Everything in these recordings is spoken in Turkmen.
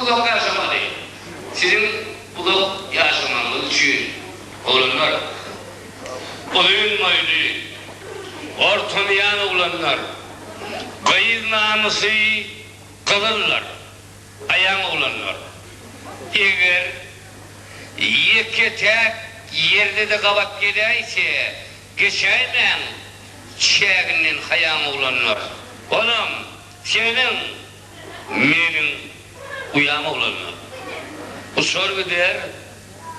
Uzak ýaşamaly. Siziň uzak ýaşamagyňyz üçin, oglanlar. Uzyn boýly, orta miýan oglanlar. Gyz namysy gyzyldyr, aýaň oglanlar. Eger ýeke-täk ýerde-de gabat geläýse, geçäýmäň çäginden haýaň oglanlar. Onam, seniň. Meniň uýam oglanlar. Uçar gider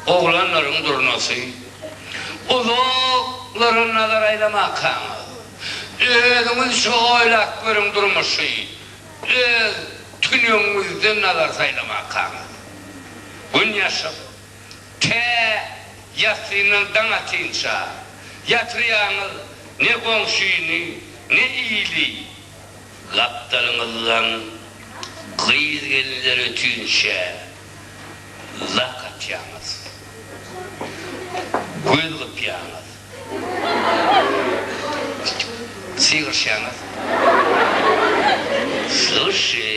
oglanlaryň durnasy. Uzaklara nazar aýlamakaňyz, özüňizçe oýlap görüň durmuşy öz tünegiňizden nazar saýlamakaňyz. Gün ýaşyp, tä ýassyndan daň atynça ýatyrýaňyz, ne goňşyny, ne ili Gapdalyňyzdan gyz-gelinler ötünçä lak atýaňyz. Göz gypýaňyz. Sygyryşýaňyz. Slyşşy,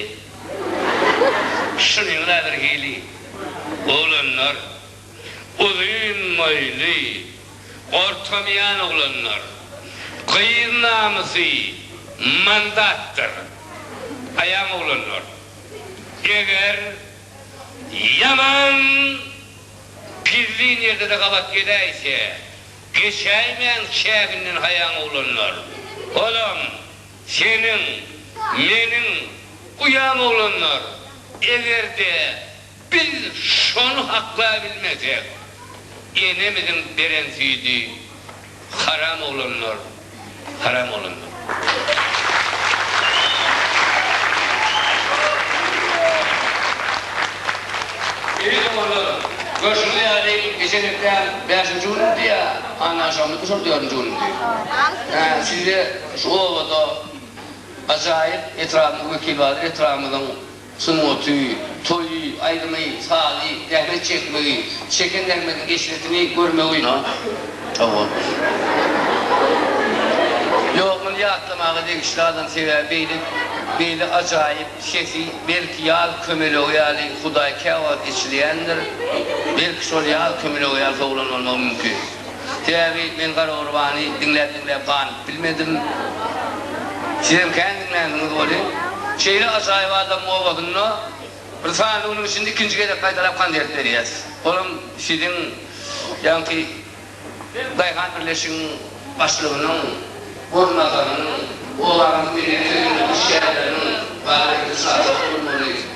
şunyň-la bir hili, oglanlar! uzyn moýly, gorkamaýan oglanlar. Gyz namysy mandatdyr. Aýaň oglanlar. Eger ýaman pizli nirde-de gabat gezäýse, geçäýmäň çäginden haýaň oglanlar. Olam seniň, meniň uýam oglanlar. Eger-de Biz şony haklaýbilmesek, enemiziň beren süýdi haram oglanlar, haram oglanlar. Eý doganlar, görşüňiz ýaly, geçen hepdäň bäşinji günüdi ýa annaşamyzmy şol dördünji günüdi? Altynjy. Hä, sizde şu obada ajaýyp etrabyň wekili bardyr, etrabymyzyň. Sungaty, toýy, aýdymy, sazy, zähmet çekmegi, çeken zähmetiň eşretini görmegi. Hawa. Ýok, muny ýatlamaga degişli adam, sebäbi beýle, beýle ajaýyp sesi, belki ýaz kömelegi ýaly Hudaý käwagt eçilýändir, belki şol ýaz kömelegi ýaly sowlan bolmagy mümkin. Sebäbi men Garagurbany diňläp-diňläp gan. Bilmedim. Sizem kän diňlänsiňiz welin, şeýle ajaýyp adamyň obasynda bir sany günüň içinde ikinji gezek gaýtalap konsert berýäs. Olam siziň ýaňky daýhan birleşigiň başlygynyň orunbasarynyň, obanyň medeniýet öýüniň işgärleriniň baýramçylyk şatlygynda bolmagyny,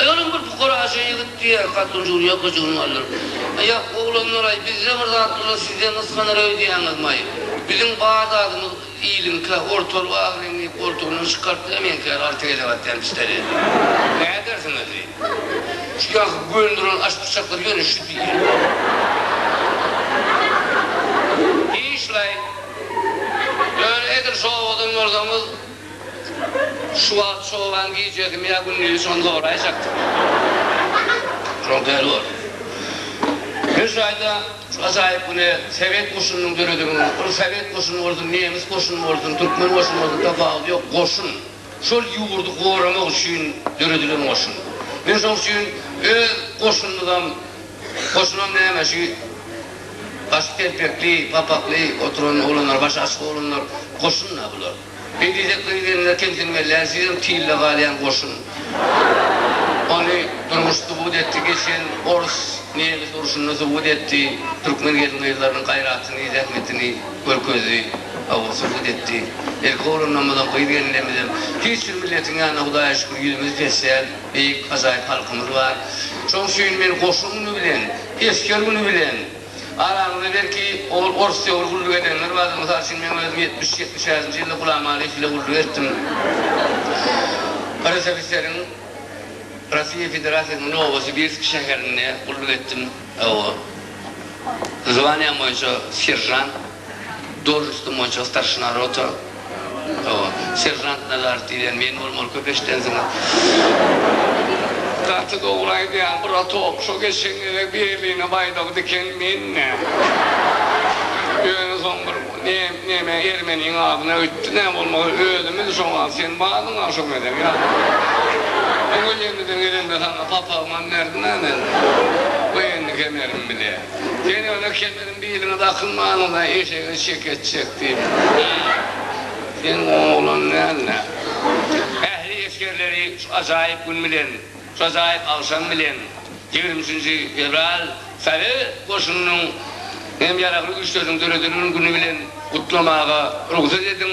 Aýalam bir pukaraja ýigit diýýär, hatyn jul ýok ejigini galdyryp. Aýak, oglanlar-aý, bizde bir zat bolsa sizden gysganar öýdýäňizmaý? Biziň bar zadymyz iliňkä, ortalyk ak reňli goltugyny çykartdy-da meňkär alty gezek atýan pistoleti. Nädersiňiz diýip. Şu ýaňky göni duran aşpyçaklar ýöne şu diýýän. Işläý. Ýöne edil şo owadan bolsaňyz. Şu wagt çoban gijegimi ýa gündizini şony soraýjakdyk. Şol däli boldy. Men şu ýerde şu ajaýyp güne sowet goşunynyň döredigini, ol sowet goşuny bolsun, nemes goşuny bolsun, türkmen goşuny bolsun tapawudy ýok, goşun. Şol ýurdy goramak üçin döredilen goşun. Men şoň üçin öz goşunymyzam, goşunam näme şu başy telpekli, papakly oturan oglanlar, başy açyk oglanlar goşun-da bular. Bedide gyz-gelne kelsin we Läzizem tilde galýan goşun. Ony durmuş subut etdi, geçen Ors, Nemes urşunda subut etdi, Türkmen gelin-gyzlarynyň gaýratyny, zähmetini görkezdi, hawa, subut etdi. Erkek oglanlarymyzam, gyz-gelinlerimizem, hiç bir milletiň ýanynda Hudaýa şükür ýüzümiz pes däl, beýik, ajaýyp halkymyz bar. Şoň üçin men goşun güni bilen, esger güni bilen, Araňyzda belki ol ors döwri gulluk edenler bardyr. Mysal üçin meň özüm ýetmiş, ýetmiş bäşinji ýylda Gulam Alyýew bile gulluk etdim. RSFSR-iň Rossiýa Federasiýasynyň Nowosibirsk şäherinde gulluk etdim. Zwanýam boýunça seržant. Должностym boýunça starşina rota, hawa, seržant Nazarow diýlen men bolmaly köp eşidensiňiz. Gaty dogry aýdýaň bura tok şo geçenlere birligiňe baýdagy diken men nä. Ýöne soň bir neme ermeniň adyna öýtdi nä bolmasa özümiz şoňa sen bardyň a şo gezek ýa. Bu gülýemizden gelende saňa papagymam berdim a men. Goýenli kemerim bile. Sen ýöne kemerim. Biliňiz akynmanyňyza eşege şeket çekdim. Hä? Sen oň oglan däl-dä. Ähli esgerleri şu ajaýyp gün bilen, şu ajaýyp agşam bilen, ýigrimi üçünji fewral Sowet goşunynyň hem ýaragly güýçleriniň döredilgen güni bilen gutlamaga rugsat ediň,